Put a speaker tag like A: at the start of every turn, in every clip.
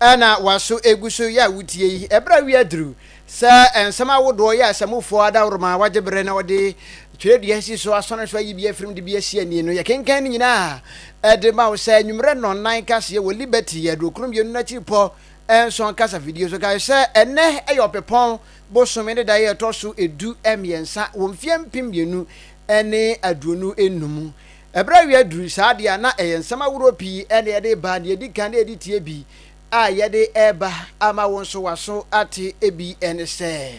A: na waso egu so yɛ a wutie yi. Ɛberɛ a wia duru sɛ nsɛm ahodoɔ yɛ asamufoɔ adaworoma a wagye berɛ na wɔde twerɛdua asi so asɔne so ayi bi afiri mu de bi asi ani no, yɛkenkan ne nyinaa de ma wo sɛ anwummerɛ nnɔnnan kaseɛ wɔ Liberty Aduokron Mmienu no akyiripɔ nson kasafidie so. Kae sɛ ɛnnɛ yɛ Ɔpɛpɔn bosome ne da yɛ ɛtɔ so edu mmiɛnsa wɔ mfeɛ mpem mmienu ne aduonu nnum. Ɛberɛ a yɛduru saa deɛ a na ɛyɛ nsɛm ahoroɔ pii na yɛde reba, deɛ ɛdi kan na yɛde tie bi a yɛde reba ama wo nso w'aso ate ebi ne sɛ.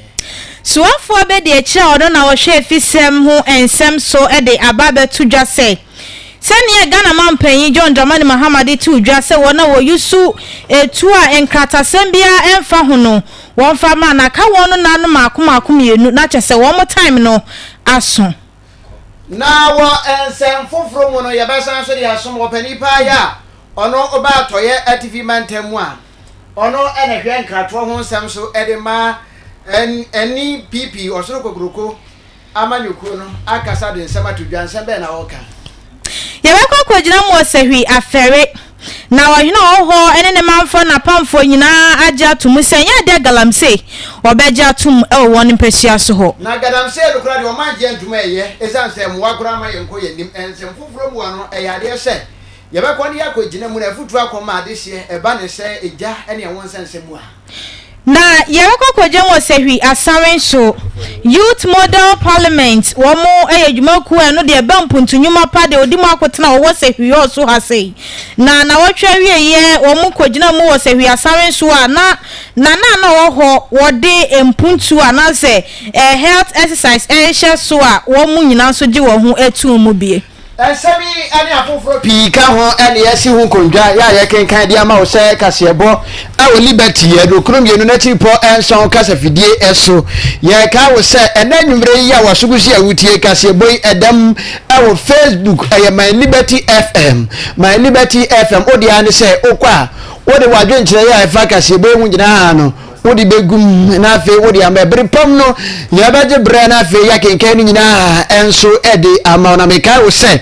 A: Soafoɔ
B: abɛdi akyire a ɔno na ɔhwɛ afisɛm ho nsɛm so de aba abɛto dwa sɛ, sɛdeɛ Ghana Manpanin John Dramani Mahama de too dwa sɛ wɔn a wɔyusu etuo a nkratasɛm biara mfa ho no wɔmfa mmra na aka wɔn no nanom mmaako mmaako mmienu na kyɛsɛ wɔn time no aso. Na
A: wɔ nsɛm foforo mu no, yɛbɛsan so de asom wɔ panin paa a ɔno ɔba Atɔeɛ Atifi Mantam mu a ɔno na ɛhwɛ nkratoɔ ho nsɛm so de ma NPP, Ɔsoro Kokroko Amanyɔkuo no, akasa de nsɛm ato dwa. Nsɛm bɛn na ɔreka? Yɛbɛkɔ
B: akɔgyina mu ɔsahwi afɛre, na ɔhene a ɔwɔ hɔ ne ne manfoɔ ne n'apamfoɔ nyinaa agye ato mu sɛ ɛnyɛ adeɛ a galamsey wɔbɛgye ato mu wɔ wɔn mpasua so hɔ. Na galamsey no koraa deɛ,
A: wɔn angye antom ɛyɛ, ɛsiane sɛ mmoa koraa mma yɛnkɔ yɛn anim. Nsɛm foforɔ mu hɔ no, ɛyɛ adeɛ sɛ yɛbɛkɔ ne yɛakɔgyina mu, na afotuo akɔ ma adehyeɛ ɛba ne sɛ egya ne ɛho nsɛnsɛm mu a. Na
B: yɛbɛkɔ kɔgye wɔ Sahwi Asawe nso. Youth Model Parliament, wɔn yɛ dwumakuo a ɛno deɛ ɛba mpuntu nnwuma pa deɛ ɔdi mu akotena wɔwɔ Sahwi hɔ so ha sei. Na nawɔtwe awieɛ wɔn kɔgyina mu wɔ Sahwi Asawe nso a na nana a na ɔwɔ hɔ wɔde mpuntu anaasɛ eh, health exercise ɛrehyɛ so a wɔn nyinaa nso gye wɔn ho too mu bie. Nsɛm
A: yi ne afoforo pii ka ho na yɛasi ho nkondwa a yɛkenkan de ama wo sɛ kaseɛbɔ wɔ Liberty Aduokron Mmienu no akyiripɔ nson kasafidie so. Yɛkae wo sɛ ɛnnɛ anwummerɛ yi a w'aso gu so yi a wotie kaseɛbɔ yi ɛda mu wɔ Facebook, ɛyɛ My Liberty FM. My Liberty FM, wo deɛ ara ne sɛ wokɔ a wode w'adwenkyerɛ a ɛfa kaseɛbɔ yi ho nyinaa no Wode bɛgu mu, na afei wode ama. Ɛbere pam no, yɛbɛgye berɛ na afei yɛakenkan no nyinaa nso de ama wo. Na mekae wo sɛ,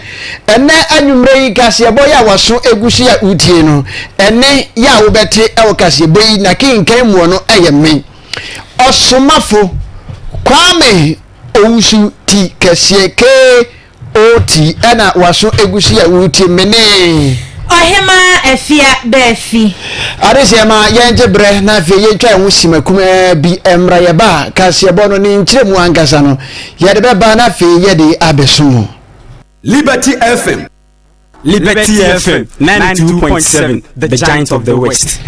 A: ɛnɛ anwummerɛ yi kaseɛbɔ yɛ a waso egu so yɛ a wotie no, ɛne yɛ a wobɛte wɔ kaseɛbɔ yi na kenkan muɔ no yɛ me ɔsomafo Kwame Owusu ti kɛseɛ K. Oti na waso egusi a wuti menee. Ɔhemaa
B: afia bɛ afi. Adesɛɛ ma
A: yɛngye berɛ na afei yɛntwa yɛn ho sima kumaa bi mmra yɛ ba a kaseɛbɔ no ne nkyerɛmu ankasa no yɛde bɛba na afei yɛde abɛso mu. Liberty
C: FM. Liberty FM 92.7 The Giant of the West.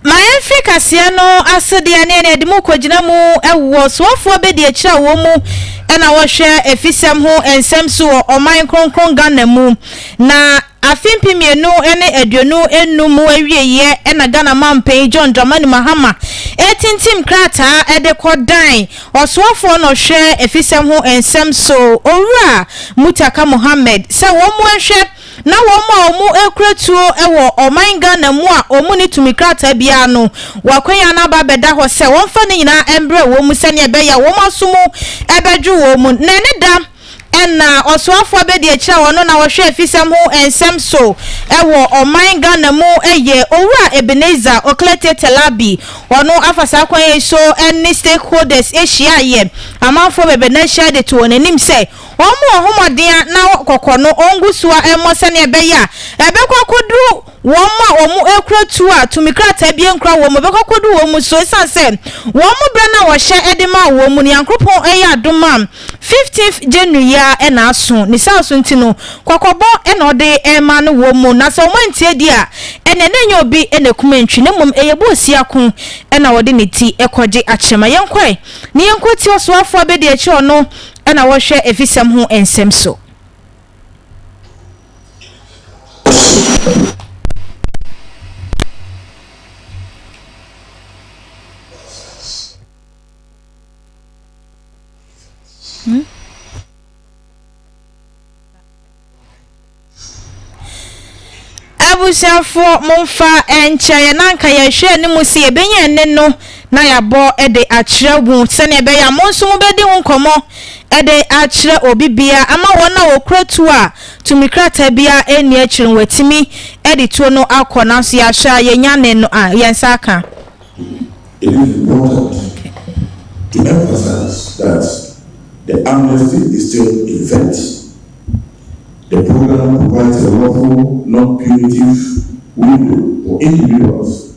B: Ma yɛmfiri kaseɛ no asedeɛ ne ɛne ɛde mu kɔgyina mu ɛwoɔ soafoɔ bɛdi akyirɛ a wɔn mu ɛna wɔhwɛ afisɛm ho nsɛm so wɔ ɔman kronkron Ghana mu na afe mpe mmienu ne aduonu enum mu awieeɛ ɛna Ghana mampanin John Dramani Mahama ɛretintim krataa ɛde kɔ dan Ɔsoafoɔ no hwɛ afisɛm ho nsɛm so Owura Mutaka Mohammed sɛ wɔmmoa nhwɛ na wɔn a wɔkura tuo wɔ ɔman Ghana mu a wɔnni tumi krataa biara no wɔakwanya no aba abɛda hɔ sɛ wɔmfa ne nyinaa mbrɛ wɔn mu sɛdeɛ ɛbɛyɛ a wɔn aso mu bɛdwo wɔn mu na ɛne da Nna Ɔsoafo Abɛdiakyiri a ɔno na ɔhwɛ afisɛm ho nsɛm so wɔ ɔman Ghana mu yɛ Owura Ebenezer Oklete Telabi. Ɔno afa saa kwan yi so ne stakeholders hyiaeɛ. Amanfoɔ bɛbɛ na ahyia de to wɔn anim sɛ wɔmmɔ wɔn ho mmɔden a na kɔkɔ no ɔngu so a ɛmmɔ sɛdeɛ ɛbɛyɛ a ɛbɛkɔ akɔduru Wɔn a wɔkura tuo a tumi krataa abien kura wɔn mu bɛkɔ akodu wɔn mu so esiane sɛ wɔn mu bere no a wɔhyɛ de maa wɔn mu no Nyankoropɔn yɛ adom a fifteenth January yi ara na aso ne saa so nti no kɔkɔbɔ na ɔde rema no wɔn mu na sɛ wɔn antie di a ɛneɛ na ɛnyɛ obi na akum antwi na mmom ɛyɛ boosia ko na ɔde ne ti kɔgye akyɛ ma yɛnkɔ ɛ na yɛnkɔ tie ɔsoafoɔ abɛdi akyire ɔno na wɔhwɛ afisɛm ho nsɛm so. Abusuafoɔ, momfa nkyɛ yɛn na anka yɛhwɛ anim sɛ yɛbɛnya ɛnne no. na yɛabɔ de akyerɛ mo, sɛnea ɛbɛyɛ a mo nso mobɛdi ho nkɔmmɔ de akyerɛ obi biara ama wɔn a wɔkura tuo a tumi krataa biara nni akyiri no wɔatumi de tuo no akɔ, nanso yɛahwɛ a yɛnnya nnɛn no a, yɛn nsa aka.
D: It is important to emphasize that the amnesty is still in effect. The program provides a lawful, non-punitive window for individuals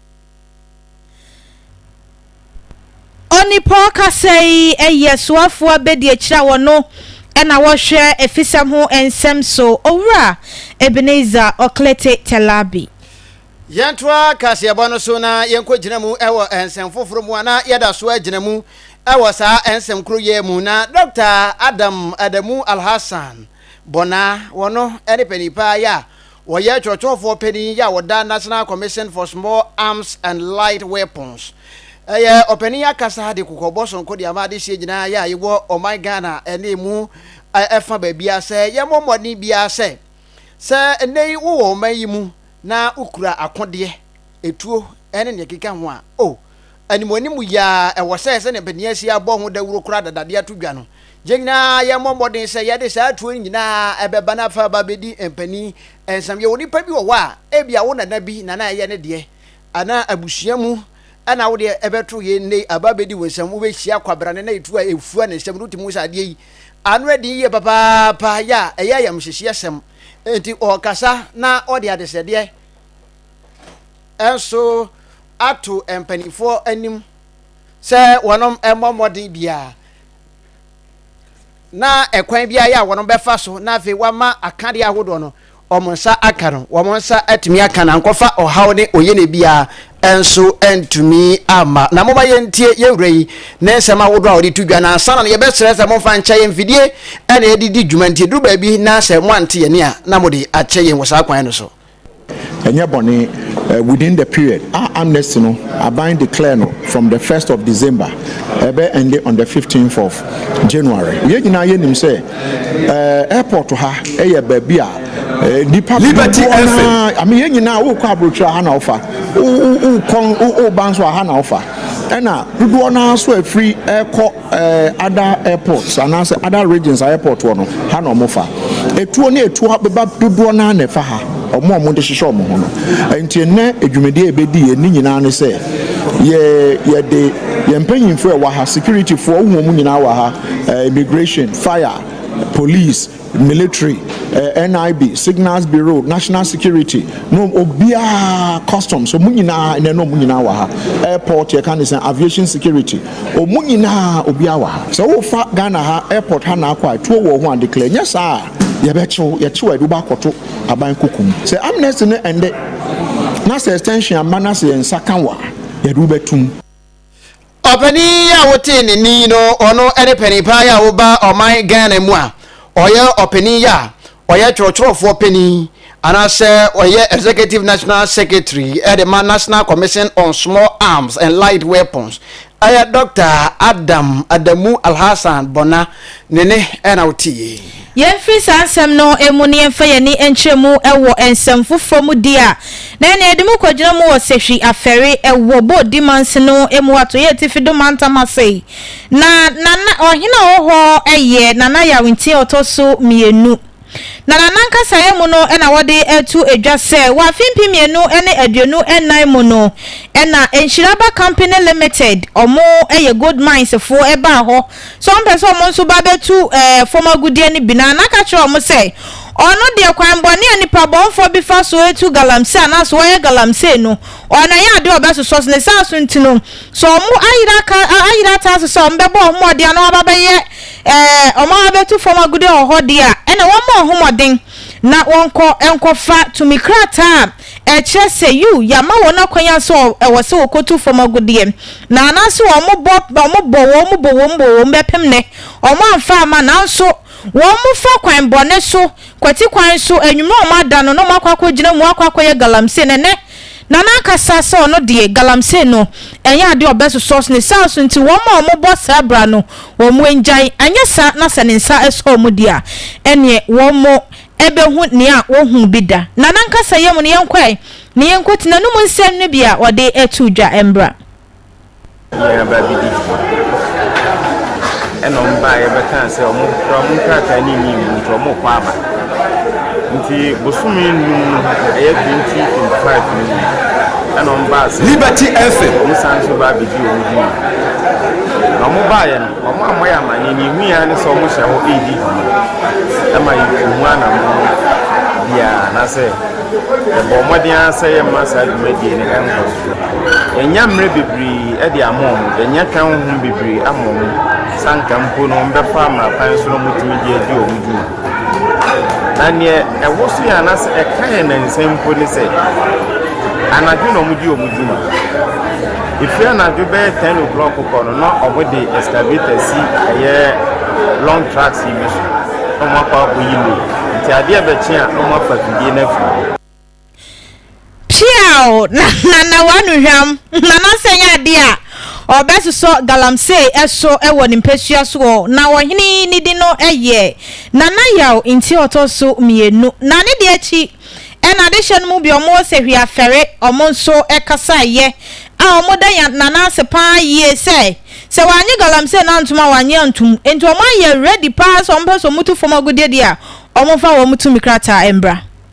B: Onipa ɔkasa yi yɛ soafoɔ abadiakyire a wɔno na wɔhwɛ afisɛm ho nsɛm so, Owura Ebenezer Oklete Telabi. Yɛntoa
A: kaseɛbɔ no so na yɛnkɔgyina mu wɔ nsɛm foforɔ mu a na yɛda so agyina mu wɔ saa nsɛm koro yɛ mu. Na Dɔkta Adam Adamu Alhassan Bonah, wɔno ne panin paa yɛ a Wɔyɛ kyerɛkyerɛfoɔ panin yi a ɔda National Commission for Small Arms and Light Weapons yɛ ɔpanin akasa de kɔkɔbɔ sonko de ama adehyeɛ nyinaa yɛ a yɛwɔ ɔman Ghana ne emu ɛfa baabiara sɛ yɛmmɔ mmɔden biara sɛ sɛ nnɛ yi wowɔ ɔman yi mu na wokura akodeɛ, etuo ne deɛ ɛkeka ho a, oh, Animuanimu yi ara, ɛwɔ sɛ sɛnea Beniasia abɔ ho dawuro koraa dada de ato dwa no, yɛn nyinaa yɛmmɔ mmɔden sɛ yɛde saa atuo no nyinaa bɛba na afei aba abɛdi mpanin nsɛm. Yɛwɔ nnipa bi wɔ hɔ a, ebia wo nana bi na na ɛyɛ ne deɛ, anaa abusua mu na wo deɛ ɛbɛto yei nnɛ yi aba abɛdi wo nsɛm. Wobɛhyia kwabrane na etu a efua ne nsam no, wotumi hu sɛ adeɛ yi ano yɛ den yie papaapa, yɛ a ɛyɛ ayamhyehyeɛsɛm. Enti ɔrekasa na ɔde adesrɛdeɛ nso ato mpanimfoɔ anim sɛ wɔn mmɔ mmɔden biara na ɛkwan biara yɛ a wɔn bɛfa so na afei wɔama akadeɛ ahodoɔ no wɔn nsa aka no wɔn nsa atumi aka na nkɔfa ɔhaw ne oyene biara nso ntumi ama na moma yɛntie yɛwura yi ne nsɛm ahodoɔ a wɔde to dwa na ansa na no yɛbɛsrɛ sɛ momfa nkyɛ yɛn mfidie ɛna yɛde di dwuma nti duru baabi na sɛ moante yɛne a na mode akyɛ yɛn wɔ saa kwan no so Ɛnyɛ
E: bɔne, eh, within the period a amnesty no aban declare no from the first of December ɛbɛ ende on the fifteenth of January. Yɛn nyinaa yɛ nim sɛ eh, airport ha ɛyɛ baabi a eh, nipa Liberty dodoɔ FM. naa, ame yɛn nyinaa wokɔ aburokyerɛ aha na wofa, wo- wo- wokɔ wo- woba nso aha na wofa, ɛna dodoɔ naa so afiri ɛkɔ eh, other airports anaasɛ other regions a airport wɔ no ha na ɔmo fa etuo ne etuo abeba dodoɔ naa na ɛfa ha ɔmo a ɔmo de hyehyɛ ɔmo ho no nti nnɛ edwumadie a ebedi yɛn ne nyinaa ne sɛ yɛ yɛde yɛn mpanyinfoɔ ɛwɔ ha securityfoɔ wohu ɔmo nyinaa wɔ ha eh, immigration fire police Military, NIB, Signals Bureau, National Security, no obiara, Customs, wɔn nyinaa, ɛnɛ no wɔn nyinaa wɔ ha. Airport, yɛka ne sɛ Aviation Security, wɔn nyinaa obiara wɔ ha. Sɛ wofa Ghana ha, airport ha na akɔ a, tuo wɔ ho a, declare. Nyɛ saa a, yɛbɛkyew, yɛkyew a yɛde wobɔ akɔto aban koko mu. Sɛ amnesty no ɛnde, na sɛ extension amma na sɛ yɛn nsa ka wo a, yɛde wobɛtum.
A: Ɔpanin yi a wotee ne nne yi no, ɔno ne panin paa yi a woba ɔman Ghana mu a ɔyɛ ɔpanin yi a ɔyɛ twerɛtwerɛfoɔ panin anaasɛ ɔyɛ Executive National Secretary de ma National Commission on Small Arms and Light Weapons ɛyɛ Dɔkta Adam Adamu Alhassan Bɔna ne ne na woteeɛ yi. Yɛmfiri saa
B: nsɛm no mu na yɛmfa yɛn ani nkyerɛ mu wɔ nsɛm foforɔ mu deɛ a, na ɛnneɛ yɛde mu kɔgyina mu wɔ Sehwi Afɛre wɔ Bodi Mansin no mu wɔ Atɔeɛ Atifi do Mantam ase. Na na na ɔhene a ɔwɔ hɔ yɛ Nana Yawentin a ɔtɔ so mmienu. Na na n'ankasa yɛ mu no na wɔde to dwa sɛ wɔ afe mpem mmienu ne aduonu nnan mu no na Nhyira Aba Company Limited, wɔn yɛ gold mines foɔ, baa hɔ sɛ ɔmpɛ sɛ wɔn nso ba bɛtu ɛɛ fam agudeɛ no bi no a, na ka kyerɛ wɔn sɛ, Ɔno deɛ, kwan bɔne a nipa bɔnfoɔ bi fa so tu galamsey anaasɛ ɔyɛ galamsey no, ɔno ɛyɛ adeɛ a ɔbɛsosɔ so. Ne saa so nti no, sɛ wɔn ayere aka, ayere ataa so sɛ wɔn bɛbɔ wɔn mmɔden ana wɔn aba bɛyɛ ɛɛ, wɔn aba bɛtu fam agudeɛ wɔ hɔ deɛ a, ɛnna wɔmmɔ wɔn ho mmɔden na wɔnkɔ nkɔfa tumi krataa a Ɛkyerɛ sɛ, yiw, yɛama wɔn akwan a sɛ ɛwɔ sɛ wɔkɔtu fam agudeɛ, na anaasɛ wɔbɔ, wɔbɔ, wɔbɔ, wɔbɔ, wɔbɛpem nnɛ, wɔamfa amma, nanso wɔfa kwan bɔne so, kwati kwan so, anwummerɛ a wɔada no, na wɔakɔ akɔgyina mu akɔ akɔyɛ galamsey, na ɛnnɛ, na n'ankasa sɛ ɔno deɛ, galamsey no, ɛnyɛ adeɛ a ɔbɛsosɔ so, ne saa so nti, wɔn a wɔbɔ saa bra no, wɔn nnyae, anyɛ saa na sɛ ne nsa sɔ wɔn deɛ a, ɛnneɛ wɔn ɛbɛhu nea wɔnhuu bi da, na n'ankasa yam no yɛnkɔ ɛ, na yɛnkɔ tena no mu nsɛm no bi a ɔde too dwa mbra.
F: Nua baa bi di dwuma, ɛna ɔmo baeɛ bɛkaa sɛ ɔmo kura ɔmo nkrataa ne nyi mu nti ɔmo kɔ aba. Nti bosome num no ɛyɛ 2025 no mu ɛna ɔmo baa sɛ. Liberty FM. Ɔmo
C: san so baa bedi
F: ɔmo dwuma. Na ɔmo baeɛ no. Wɔammɔ yɛn amanneɛ. Nea ehui ara ne sɛ wɔhyɛ hɔ redi dwuma. Ɛma yetu ho anammɔn biara anaasɛ yɛbɔ mmɔden ara sɛ yɛremma saa dwumadie no nkɔ so. Yɛannya mmerɛ bebree de ama wɔn, yɛannya twɛn honhom bebree amma wɔn sɛ anka mpo no wɔbɛfa mmara kwan so na wɔatumi de adi wɔn dwuma. Na nea ɛwɔ so yɛ anaasɛ ɛka yɛn nnansa mpo ne sɛ, anadwo na wɔdi wɔn dwuma. Ɛfiri anadwo bɛyɛ 10 o'clock kɔ no, na wɔde excavator si ɛyɛ long trucks yi bi so, na wɔakɔ akɔyi load. Nti adeɛ bɛkye a, na wɔafa afidie no afiri hɔ. Peaw
B: na na w'anuhwam Manase nyɛ adeɛ a ɔbɛsosɔ galamsey so wɔ ne mpasua so hɔ. Na ɔhene yi ne din no yɛ Nanayaw nti a ɔtɔ so mmienu. Na ne deɛ akyi na adehyeɛ no mu bi a wɔwɔ Sehwiafɛre wɔn nso kasaeɛ a wɔda yan Nanase paa yie sɛ sɛ wannye galamsey no antom a wannye antom. Nti wɔayɛ ready paa sɛ wɔpɛ sɛ wɔtu fam agudeɛ deɛ a wɔmfa wɔn tumi krataa mbra.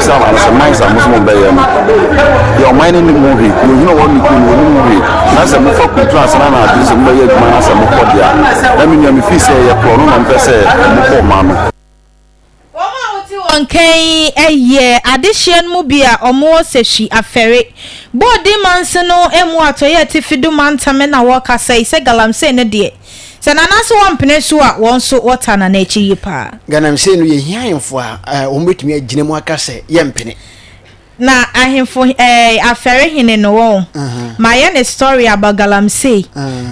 G: Sɛ ɔman sɛ man sɛ mo sɛ mo bɛyɛ no deɛ ɔman no nim ho hwee kuro hene ɔwɔ ne kuro no ɔnim ho hwee na sɛ mo fa kuntu ansa na adwene sɛ mo bɛyɛ adwuma na sɛ mo kɔ deɛ na me nua me fii sɛ yɛ korɔ no na mo pɛ sɛ mo kɔ ɔman no. Wɔn a wɔte wɔn
B: nkan yi yɛ adehyeɛ no mu bi a wɔwɔ Sehwi Afɛre, Bɔɔden Manse no mu Atɔeɛ Atifi do mantam na wɔkasa yi sɛ Galamsey no deɛ Sɛ Nana so wɔmpene so a wɔn nso wɔtaa Nana akyi yie paa. Ganamsey no yɛhia
A: ahemfo a wɔn bɛtumi agyina mu aka sɛ yɛmpene. Na
B: ahemfo eh afɛre hene no wɔn mayɛ ne story about galamsey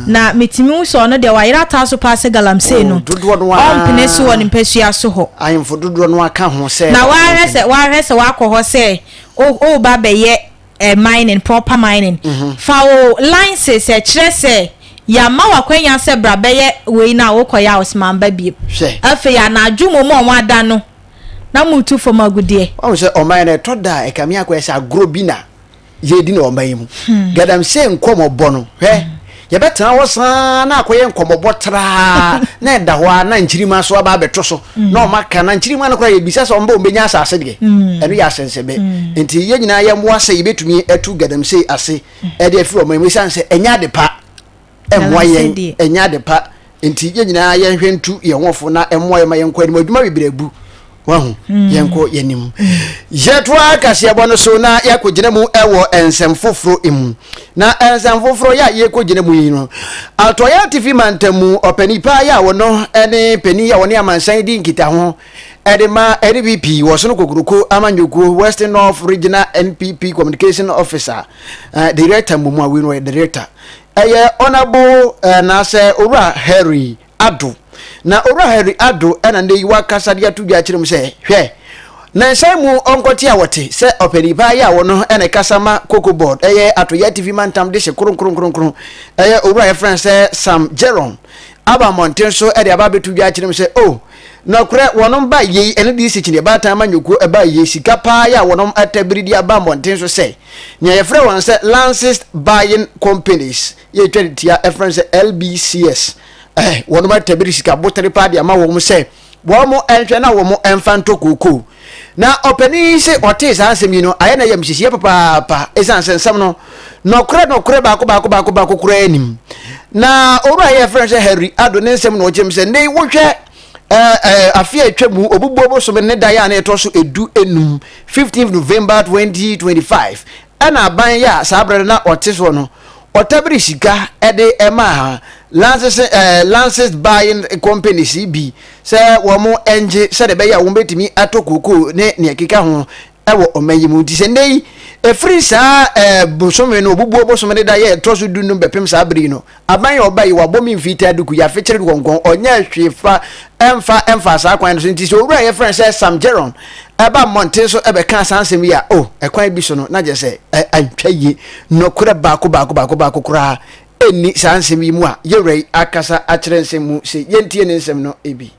B: na metumi hu sɛ ɔno deɛ wayera ataa so paa sɛ galamsey no ɔmpene so wɔ ne mpasua so hɔ. Ahemfo dodoɔ no ara ka
A: ho sɛ. Na wahwɛ sɛ wahwɛ
B: sɛ wakɔ hɔ sɛ o o ba bɛyɛ. eh, mining, proper mining. Mhm. Fa wo lines sɛ kyerɛ sɛ yɛama wakwanya sɛ bra bɛyɛ wei no a wokɔyɛ a ɔsmamba bio. Hwɛ. Afei anadwo mu ma ɔmo ada no na motu fam agudeɛ. Ɔmo sɛ ɔman no ɛtɔ
A: da a ɛkame akɔyɛ sɛ agorɔ bi na yɛdi no ɔman yi mu. Hmm. Gadamsey nkɔmɔbɔ no hwɛ. Hmm. Yɛbɛtena hɔ saa ara na akɔyɛ nkɔmmɔbɔ traa na ɛda hɔ ara na nkyirimma so aba abɛto so mm. na wɔaka na nkyirimma no koraa yɛbisa sɛ wɔbɛ wɔbɛnya asase deɛ mm. ɛno yɛ asɛnsɛbɛ mm. nti yɛn nyinaa yɛmmoa sɛ yɛbɛtumi atu galamsey ase ɛde afiri wɔn mu ɛsiane sɛ ɛnyɛ ade pa ɛmmoa yɛn ɛnyɛ ade pa Nti yɛn nyinaa yɛnhwɛ ntu yɛn ho fo na mmoa yɛn ma yɛnkɔ anim adwuma bebree abu wahu hmm. yɛnkɔ yɛn anim yɛtoa kaseɛbɔ no so na yɛakɔgyina mu wɔ nsɛm foforɔ mu na nsɛm foforɔ yɛ a yɛkɔgyina mu yi no atɔeɛ atifi mantam mu ɔpani paa yɛ a wɔno ne pani a wɔne amansan di nkitaho ɛde ma npp wɔ so no kokoroko amanyɔkuo western north regional npp communication officer uh, director mmumu awi no ɔyɛ director Ɛyɛ Honourable anaasɛ Owura Harry Addo. Na Owura Harry Addo na nnɛ yi wakasa de ato dwa akyerɛ mu sɛ, hwɛ, nansa mu ɔnkɔte a wɔte sɛ ɔpani paa yɛ a wɔno na ɛkasa ma Cocoa Board, ɛyɛ Ato Yatifi Mantam dehye kronkronkronkron, ɛyɛ Owura a yɛfrɛ no sɛ Sam Jerome, aba mmɔnten so de aba abɛto dwa akyerɛ mu sɛ, oh, Nɔkorɛ, wɔnom bae yei, ɛno deɛ sikyineɛ, baatan ama nyɔkuo ɛbae yei, sika paa yɛ a wɔnom ɛtɛ bere de aba mmɔnten so sɛ, nea yɛfrɛ wɔn sɛ Lancist Buying Companies, yɛ twa no tia, ɛfrɛ no sɛ LBCS, eh, wɔnom ɛtɛ bere sika botere paa de ama wɔn sɛ wɔn ɛnhwɛ na wɔn ɛnfa ntɔ kookoo. Na ɔpanin yi se ɔtee saa asɛm yi no, ayɛ no ayamhyehyeɛ papaapa, ɛsiane sɛ nsɛm no, nɔkorɛ nɔkorɛ baako baako baako baako koraa nim. Na owura yi a yɛfrɛ no sɛ Henry Addo ne nsɛm na ɔkyerɛ mu sɛ, nnɛ yi wohwɛ afe a atwa mu obubuo bosome ne da yɛ a na ɛtɔ so edu enum, 15 November 2025, Ɛna aban yi a saa berɛ no na ɔte soɔ no, ɔtabiri sika de maa Lances eh, Lances Buying Companies yi bi sɛ wɔn ngye sɛdeɛ ɛbɛyɛ a wɔbɛtumi atɔ kokoo ne nea ɛkeka ho wɔ ɔman yi mu. Nti sɛ nnɛ yi, ɛfiri saa eh, bosome no, ɔbubuo bosome no da yɛ ɛtɔ so du no bɛpem saa bere yi no, Aban yɛ ɔba yi, wabɔ me mfiitaa duku, yɛafekyere dukonkɔn, ɔnyɛɛ hwee fa ɛmfa ɛmfaa saa kwan no so, nti sɛ owura a yɛfrɛ no sɛ Sam Jerron ɛba mmɔnten so ɛbɛkaa saa nsɛm yi a, o, ɛkwan bi so no, na gyesɛ ɛ, antwa yie. Nokorɛ baako baako baako baako koraa nni saa nsɛm yi mu a yewura yi akasa akyerɛ nsɛm mu se yentie ne nsɛm no, ebi.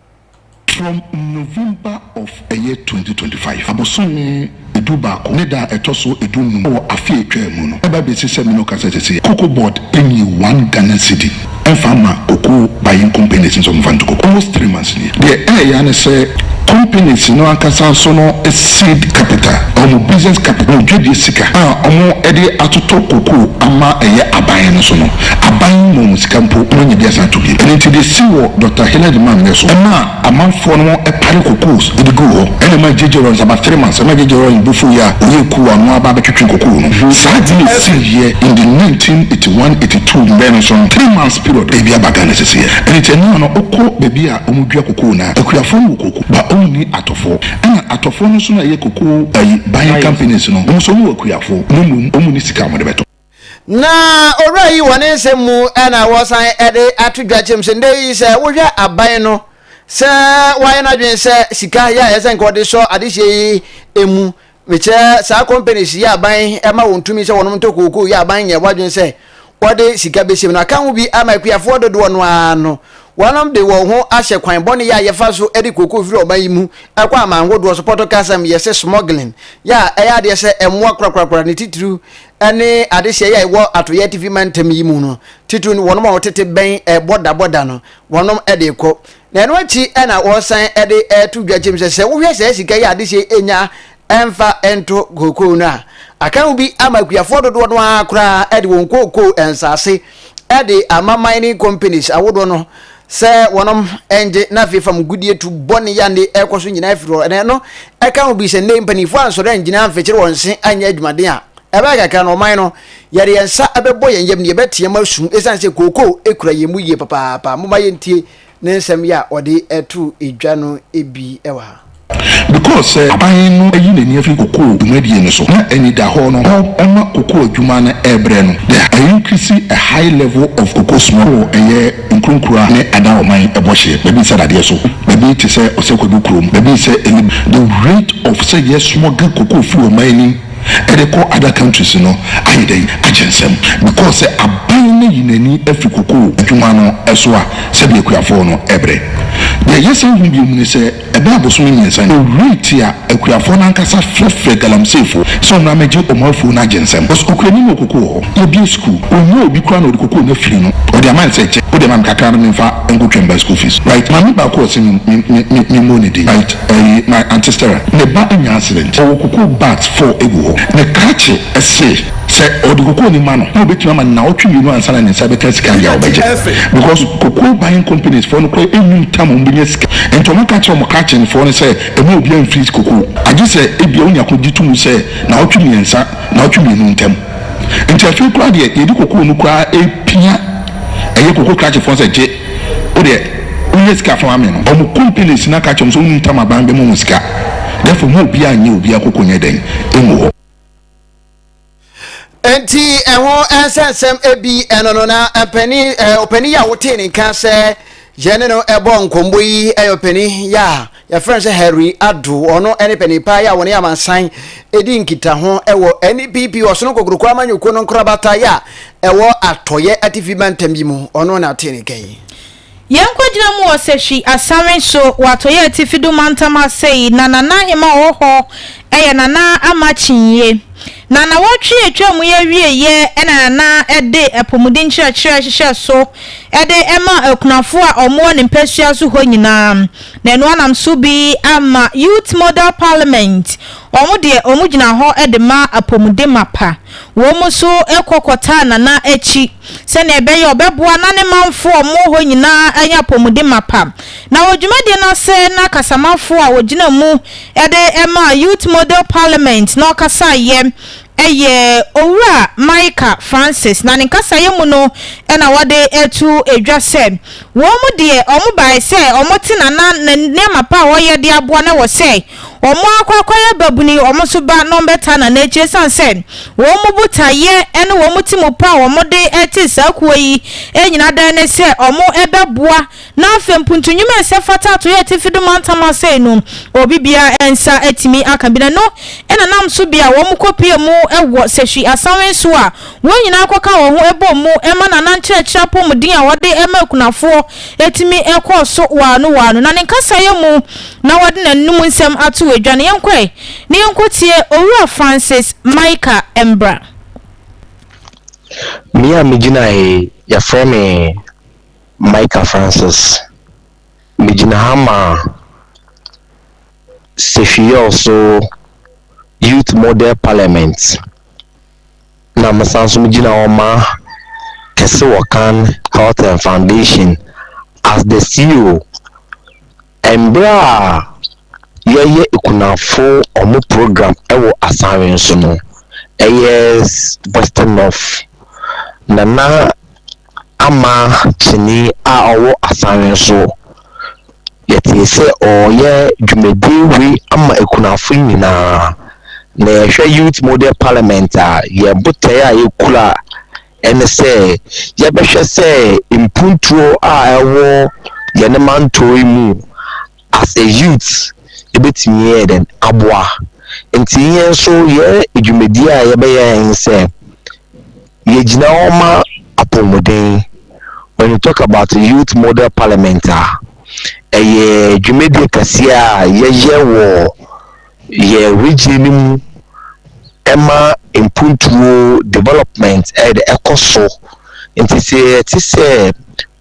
A: From
H: November of ɛyɛ twenty twenty five abosome du baako ne da a ɛtɔ so du num wɔ afe a etwaa mu no ɛba besi sɛ me ne wo kasa sɛsɛ yi Cocoa board nyi one Ghana cedi ɛnfa mma cocoa buying companies no sɛ wɔnfa nto cocoa almost three months nie deɛ ɛɛya ne sɛ companies no ankasa nso no seed capital wɔn business capital wɔn dwadie sika a wɔn de atoto cocoa ama ɛyɛ aban no so no Aban mmom sika mpo wɔnnya bi asan atɔ bio. Ɛno nti de si wɔ Dɔkta Hillel de maa me no so. Ɛmaa amanfoɔ no tare kokoos de guu hɔ. Ɛna ɛmaa JJ Rawlings about three months. Ɛmaa JJ Rawlings bo fuiɛ a ɔyɛɛ kuo a ɔno ara ba abɛtwetwe kokoo no. Saa ade no siiɛ in the nineteen eighty one, eighty two mmerɛ no so no, three months period ebi aba Ghana seseɛ. Ɛno nti ɛno a no wokɔ baabi a wɔdua kokoo no a, akuafoɔ no wɔ kooko but wɔnni atɔfoɔ. Ɛna atɔfoɔ no nso no a ɛyɛ kokoo ayi buying companies no, wɔn nso wɔwɔ akuafoɔ na mmom wɔnni sika a wɔde bɛtɔ. Na
A: owura yi wɔn nsɛm mu na wɔsan de ato dwa kyɛm sɛ ndɛ yi sɛ wohwɛ aban no sɛ wayɛ n'adwene sɛ sika yɛ a ɛsɛ nka ɔde sɔ adehyeɛ yi emu mekyerɛ saa companies yɛ aban ɛma wɔn tumi sɛ wɔnom ntɔ kookoo yɛ aban nyɛ wadwene sɛ wɔde sika bɛhyɛm no aka ho bi ama akuafoɔ dodoɔ no ara no Wɔnom de wɔn ho ahyɛ kwan bɔne yi a yɛfa so de kooko firi ɔman yi mu kɔ aman hodoɔ so, Pɔtɔ kasam yɛse smuggling, yɛ a ɛyɛ adeɛ sɛ mmoa korakorakora ne titiriw ne adehyeɛ yi a ɛwɔ atoyɛ atifi mantam yi mu no, titiriw no wɔnom a wɔtete bɛn bɔda bɔda no, wɔnom de rekɔ. Na ɛno akyi na wɔsan de reto dwa kyem sɛ sɛ wohwɛ saa sika yi a adehyeɛ yi nya mfa nto kookoo no a, aka no bi ama akuafoɔ dodoɔ no ara koraa de wɔn kookoo nsase de ama mining companies ahodoɔ no sɛ wɔnom ngye na afei fam gudie tu bɔne yɛ ne ɛkɔ so nyinaa firi hɔ ɛnɛ no ɛka ho bi sɛ nnɛ mpanimfoɔ ansɔre angyina amfekyere wɔn se anyɛ adwumaden a ɛbɛyɛ kakra no ɔman no yɛde yɛn nsa ɛbɛbɔ yɛn yam ne yɛbɛteam asu ɛsiane sɛ kookoo ɛkura yɛn mu yie papaapa moma yɛntie ne nsɛm yi a ɔde too dwa no bi wɔ ha. Because sɛ
H: aban no ayi n'ani afi cocoa dwumadie no so na anidahɔ no hɔ ma cocoa adwuma no ɛbrɛ no, the a increase a high level of cocoa smoke wɔ ɛyɛ nkurunkura ne Adaoman ɛbɔ hyeɛ baabi sɛ dadeɛ so baabi te sɛ Ɔsɛkwadu kurom baabi sɛ Elib the rate of sɛ yɛ smoge cocoa firi ɔman anim de kɔ other countries no ayɛ dɛn akyɛ nsɛm because sɛ aban no yi n'ani firi cocoa adwuma no so a sɛdeɛ akuafoɔ no brɛ. Deɛ yɛsan hu bio mu ne sɛ ɛbɛyɛ abosome mmiɛnsa ni ɔwurii te a akuafoɔ no ankasa frɛfrɛ galamseyfoɔ sɛ ɔmmra mmɛgye wɔn afuo no agye nsɛm because ɔkura ni no wɔ cocoa hɔ. Yɛbue school ɔnnya obi koraa na ɔde cocoa no afiri no ɔde ama no sɛ kyɛ wode ma me kakra no memfa. nkotwam ba school fees right maame baako a ɔse me me me mmɔ ne din right ɛyi my aunty Stera ne ba anya accident ɔwɔ kokoo bags four egu hɔ ne krakye ɛse sɛ ɔde kokoo no ma no na ɔbɛtumi ama no nnawɔtwe mmienu ansa na ne nsa bɛka sika yɛ a ɔbɛgye because kokoo buying companies foɔ no koraa nnim tam a ɔmo bɛnya sika nti ɔmo aka kyerɛ ɔmo krakye no foɔ no sɛ mma obiara mfreeze kokoo agye sɛ ebia wonya kogye to mu sɛ nnawɔtwe mmiɛnsa nnawɔtwe mmienu ntam. Nti afei koraa deɛ yɛde kokoo no koraa ɛpia ɛyɛ koko krakye foɔ sɛ gye wodeɛ wonya sika fa ma me no ɔmo companies no aka akyerɛ mo sɛ wonim tam aban bɛma mo sika therefore mo obiaa nyɛ obiaa koko nyɛ dɛn ngu hɔ.
A: Nti ɛho ɛnsɛ nsɛm ɛbi ɛno no na mpani ɔpani yɛ a wotee ne nka sɛ yɛne no ɛbɔ nkɔmbɔ yi ɛyɛ ɔpani yɛ a Yɛfrɛ no sɛ Harry Addo, ɔno ne panin paa yi a wɔne amansan di nkitaho wɔ NPP Ɔsono Kokroko amanyɔkuo no nkorabata yɛ a ɛwɔ atɔeɛ atifi mantam yi mu. Ɔno na ɔte ne nka yi. Yɛnkɔgyina
B: mu wɔ Sahwi asawe so wɔ atɔeɛ atifi do mantam ha sɛ yi na Nana Ahima ɔwɔ hɔ yɛ Nana ama kyinyie. Na nawɔtwe a atwa mu yi awieɛ na Nana de apɔmuden nkyerɛkyerɛ hyehyɛ so de ma akunafoɔ a wɔwɔ ne mpasua so hɔ nyinaa. Na ɛno anam so bi ama Youth Model Parliament, wɔn deɛ wɔn gyina hɔ de ma apɔmude mapa. Wɔn nso kɔ kɔtaa Nana akyi sɛdeɛ ɛbɛyɛ a ɔbɛboa na ne manfoɔ a wɔwɔ hɔ nyinaa anya apɔmude mapa. Na wɔ dwumadie no ase na kasamafoɔ a ɔgyina mu de maa Youth Model Parliament na ɔkasaeɛ Ɛyɛ Owura Micah Francis na ne nkasaeɛ mu no na wɔde to dwa sɛ, wɔn deɛ wɔn baeɛ sɛ wɔte Nana na nneɛma pa a ɔyɛ de aboa no wɔ sɛ wɔn akɔ akɔyɛ babuni wɔn nso ba na wɔbɛtaa Nana akyi ɛsiane sɛ wɔn botaeɛ ne wɔn ti mu pa a wɔde te saa kuo yi nyina dan ne sɛ wɔbɛboa Na afei mpo nto nnwom a ɛsɛ fata ato yɛn atifi do mantam ase yi no, obi biara nsa atumi aka bi. Na ɛno na nam so bi a wɔkɔpue mu wɔ Sehwi Asawen so a wɔn nyinaa kɔka wɔn ho bɔɔ mu ma Nana nkyerɛkyerɛ apɔmuden a ɔde ma akunafoɔ tumi kɔɔ so waano waano. Na ne nkasaeɛ mu na wɔde n'anom nsɛm ato wɔ dwa no. Yɛnkɔ ɛ na yɛnkɔtie Owura Francis Maika mmra.
I: Me a megyinaeɛ yi, yɛfrɛ me Micah Francis. Megyina ha ma Sefwi-Yorso Youth Model Parliament, na mesan nso megyina hɔ ma Kɛse Wɔkan Health and Foundation as the CEO. Mbrɛ a yɛyɛ ekunafo wɔn program wɔ asawen so no, ɛyɛ Western North. Nana Ama Kyene a ɔwɔ asawen so, yɛtee sɛ ɔreyɛ dwumadie wei ama ekunafo nyina ara. Na yɛhwɛ Youth Model Parliament a, yɛn botaeɛ a yɛkura ne sɛ yɛbɛhwɛ sɛ mpuntuo a ɛwɔ yɛn mantɔw yi mu as a youth ɛbɛtumi ayɛ dɛn aboa nti yɛn nso yɛn dwumadie a yɛbɛyɛ ne sɛ yɛgyina hɔ ma apɔmuden when you talk about youth model parliament a ɛyɛ dwumadie kɛseɛ a yɛyɛ wɔ Yɛn region no mu ɛma mpuntuo development ɛyɛ dɛ ɛkɔ so nti sɛ yɛte sɛ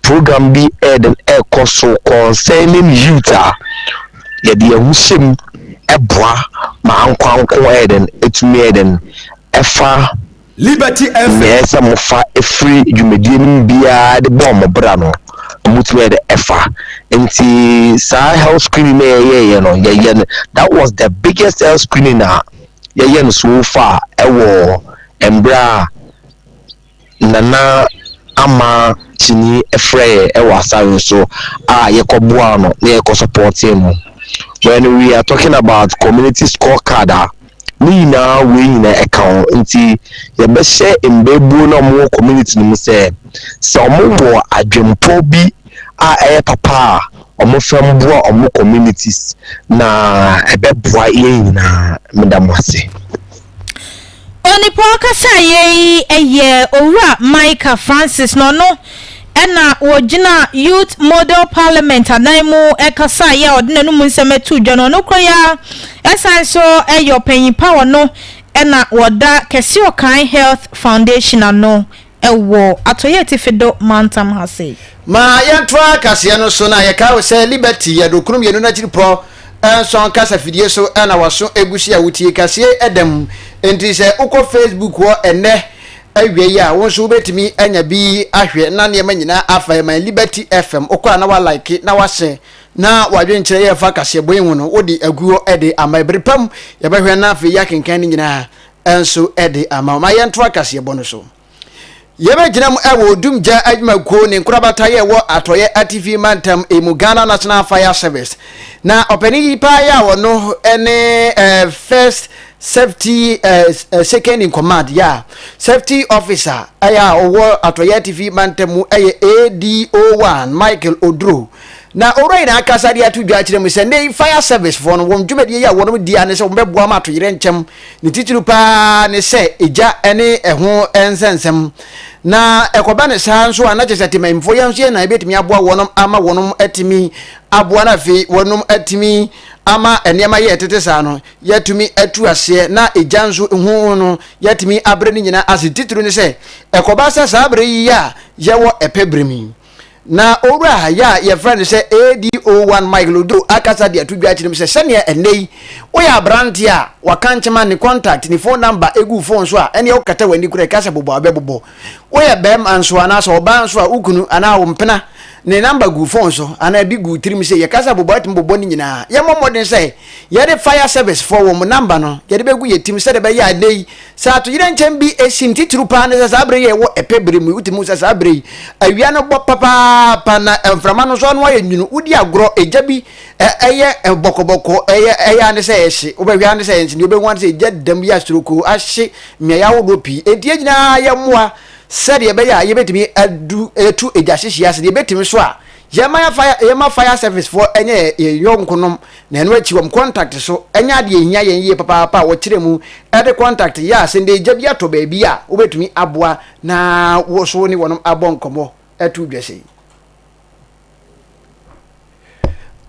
I: program bi ɛyɛ dɛ ɛkɔ so concerning youth a yɛde yɛn ho hyɛ mu ɛboa ma ankoanko ɛyɛ dɛ ɛtumi ɛyɛ dɛ ɛfa Liberty
C: FM. Nea ɛsɛ sɛ mofa
I: firi dwumadie no mu biara de bɔɔ mo bra no, motumi ayɛ dɛ ɛfa. Nti saa health screening na yɛyɛeɛ no, yɛyɛ no, that was the biggest health screening a yɛyɛ no so far ɛwɔ mmerɛ a Nana Ama Kyini frɛ yɛ ɛwɔ Asare so a yɛkɔ boaa no na yɛkɔ supportee no. When we are talking about community score card a, ne nyinaa wei nyinaa ɛka ho nti yɛbɛhyɛ mbɛɛbuo no a wɔwɔ community no mu sɛ sɛ wɔwɔ adwempɔ bi a ɛyɛ papa a wɔfa mboa wɔn communities na ɛbɛboa yɛn nyinaa meda mo ase.
B: Onipa ɔkasaeɛ yi yɛ Owura Micah Francis na ɔno Ɛnna ogyinaa Youth Model Parliament adan mu kasaeɛ a ɔde n'anom nsɛm too dwa no. Nokorɛ yi ara, ɛsane nso yɛ ɔpanyin pa a ɔno na ɔda Kɛseɔkan Health Foundation ano wɔ Atɔeɛ Atifi do mantam ha sei. Ma
A: yɛntoa kaseɛ no so na yɛkae wo sɛ Liberty yɛ do kron mmienu no akyiripɔ nson kasa fidie so na waso gu so a wotie kaseɛ da mu. Enti sɛ wokɔ Facebook hɔ ɛnnɛ Awiei a, wo nso wobɛtumi anya bi ahwɛ na nneɛma nyinaa afa ɛman Liberty FM wokɔ a na wa like na wa share na w'adwenkyerɛ yɛ fa kaseɛbɔ yi ho no wode agu hɔ de ama ɛbere pa mu yɛbɛhwɛ na afei yɛakenkan no nyinaa nso de ama wo ma yɛntoa kaseɛbɔ no so Yɛbɛgyina mu wɔ Odum Gya Adwumakuo ne nkorabata yɛ wɔ Atɔeɛ Atifi Mantam mu Ghana National Fire Service na ɔpanin yi paa yɛ a ɔno ne eh, First Safety eh, Second in Command, yeah, Safety Officer eh, a ɔwɔ Atɔyɛ Atifi Mantam mu eh, yɛ ADO1 Michael Oduro. Na owura yi na akasa de ato dwa akyerɛ mu sɛ nnɛ yi Fire Service foɔ no wɔn dwumadie yi a wɔnom di ane sɛ wɔbɛboa ma atoyerɛnkyɛm ne titiri paa ne sɛ egya ne ɛho nsɛnsɛm na ɛkɔba ne saa nso a na kyɛ sɛ temanfoɔ yɛn nso yɛn na ebɛtumi aboa wɔnom ama wɔnom atumi aboa no afei wɔnom atumi ama nneɛma yɛ ɛtete saa no yɛatumi atu aseɛ na egya nso ho no yɛatumi abrɛ ne nyinaa ase. Titiriw ne sɛ, ɛkɔba sɛ saa bere yi a yɛwɔ ɛpɛ bere mu yi, na owura yɛ a yɛfrɛ no sɛ ADO1 Mike Lodeau akasa de ato dwa akyerɛ mu sɛ sɛnea ɛnnɛ yi woyɛ aberanteɛ a waka nkyema ne contact, ne phone number gu phone so a, ɛnneɛ wokata w'ani koraa ɛka sɛ bobɔ a, ɔbɛbobɔ. Woyɛ barima nso anaasɛ ɔbaa nso a, wo kunu anaa wo mpena ne namba gu wo fon so anaa bi gu wo tirim sɛ yɛ kasa bobɔ a, tumi bobɔ ne nyinaa. Yɛmmɔ mmɔden sɛ yɛde Fire Service foɔ wɔn namba no yɛde bɛgu yɛ tirim sɛdeɛ ɛbɛyɛ a ɛnnɛ yi sɛ atoyerɛnkyɛm bi si no titiriw paa ne sɛ saa berɛ yi a yɛwɔ ɛpɛ berɛ mu yi wotumi hu sɛ saa berɛ yi awia no bɔ papaapa na mframa no nso ano ayɛ nwunu wodi agorɔ egya bi ɛyɛ bɔkɔbɔkɔ ɛyɛ ɛyɛ ane sɛ ɛhye wobɛhwɛ ane sɛ ɛnhye deɛ wobɛhu ane sɛ egya dam yi asorokoo ahye Mmeae ahodoɔ pii nti yɛn nyinaa yɛ mmoa sɛdeɛ ɛbɛyɛ a yɛbɛtumi adu atu agyahyehyɛ ase. Deɛ yɛbɛtumi nso a, yɛma yɛn fire yɛma fire service foɔ nyɛ yɛn yɛn yɔnkonom na ɛno akyi wɔn contact so nyɛ adeɛ ɛhia yɛn yie papaapa a wɔkyerɛ mu de contact yɛ a sɛ nnɛ gya bi atɔ baabi a wobɛtumi aboa na wo so wo ne wɔnom abɔ nkɔmmɔ ato dwa sei.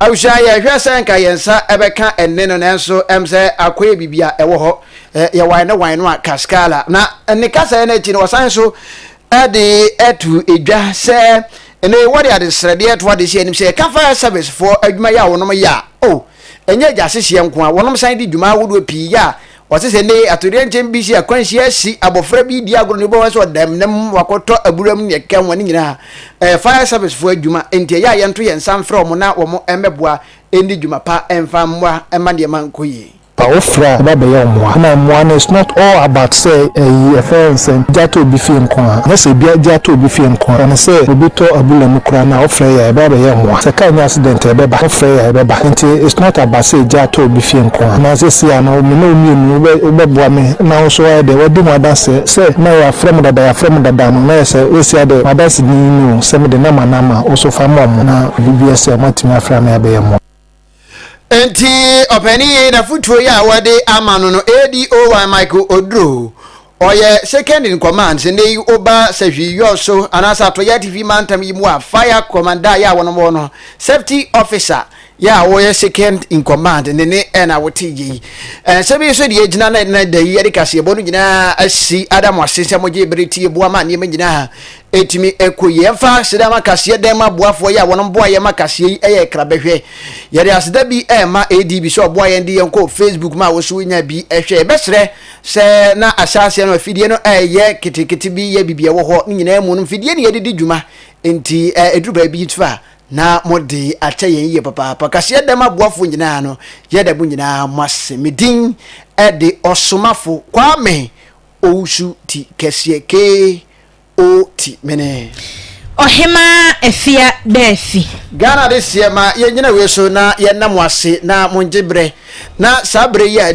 A: abusua yɛhwɛ sɛ nka yɛn nsa ɛbɛka ɛne no nanso ɛm sɛ akɔ yɛ biribi a ɛwɔ hɔ yɛ wan ne wan no a kaskala na ne kasa yɛ no akyi no wɔsan so ɛde ɛto edwa sɛ ɛne wɔde adesrɛdeɛ to ade si anim sɛ ɛka fire service foɔ adwuma yɛ a wɔnom yɛ a o ɛnyɛ gya sehyeɛ nko a wɔnom san de dwuma ahodoɔ pii yɛ a Ɔse sɛ nnɛ yi atoyerɛnkyɛm bi si, akwanhyia si, abɔfra bi redi agorɔ na obi bɛfa so ɔda amena mu ma wakɔtɔ abura mu ne nea ɛkeka ho a, ne nyinaa ɛyɛ fire service foɔ adwuma nti ɛyɛ a yɛnto yɛn nsa mfrɛ wɔn na wɔn mmɛboa nni dwuma pa mfa mmoa mma nneɛma nkɔ yie. Fa wo frɛ a ɛba
J: bɛyɛ mmoa na mmoa no it's not all about sɛ ɛyi ɛfɛ sɛ gya atɔ obi fie nko ara nyɛ sɛ bia gya atɔ obi fie nko ara fa no sɛ obi tɔ abura mu koraa no a wo frɛ yɛ a ɛba bɛyɛ mmoa sɛ car nya accident a ɛbɛba wo frɛ yɛ a ɛbɛba nti it's not about sɛ gya atɔ obi fie nko ara na sɛsei a no Ao me ne wo mmienu, wobɛ wobɛboa me na wo nso woayɛ dɛn woadi ho adanseɛ sɛ na yɛafrɛ mo dada yɛafrɛ mo dada no na ayɛ sɛ seesei deɛ m'adanse din yi ni o sɛ mede nɔma no ama wo so fa ma wɔn na biribi biara si a wɔatumi afra me abɛyɛ mmoa. Enti
A: ɔpanin yi n'afotuo yi a wɔde ama no no ADOY Michael Oduro Ɔyɛ Second in Command Sendai Oba Sahwi Yɔso anaasɛ Atoyɛ Atifi Mantam yi mu a Fire Commander yɛ a wɔnom wɔ no, Safety Officer yɛ a ɔyɛ Second in Command ne ne ɛna wote yɛ yi. Nsɛm yi so deɛ ɛgyina na ɛna da yi yɛde kaseɛbɔ no nyinaa asi ada mo ase sɛ mogye bere tie boa ma nneɛma nyinaa ɛtumi ɛkɔ yie. Ɛmfa aseda ma kaseɛ dɛm aboafoɔ yɛ a wɔnom boa yɛ ma kaseɛ yi ɛyɛ kra bɛhwɛ. Yɛde aseda bi ɛma ADB sɛ ɔboa yɛn de yɛn kɔ Facebook ma wo so wonya bi ɛhwɛ. Yɛbɛsrɛ Sɛ na ahyɛaseɛ no afidie no ɛyɛ ketekete bi yɛ biribi ɛwɔ hɔ ne nyinaa mu no mfidie ne yɛde di dwuma nti ɛduru baabi nso a na mo de akyɛ yɛn yie papaapa kaseɛ dɛm aboafoɔ nyinaa no yɛda mo nyinaa mo ase me din ɛde ɔsomafo Kwame Owusu ti kɛseɛ KOT mene. Ɔhemaa
B: Afia Dafi. Ghana de seɛ
A: ma yɛn gyina wei so na yɛda mo ase na mo ngye berɛ na saa berɛ yi a.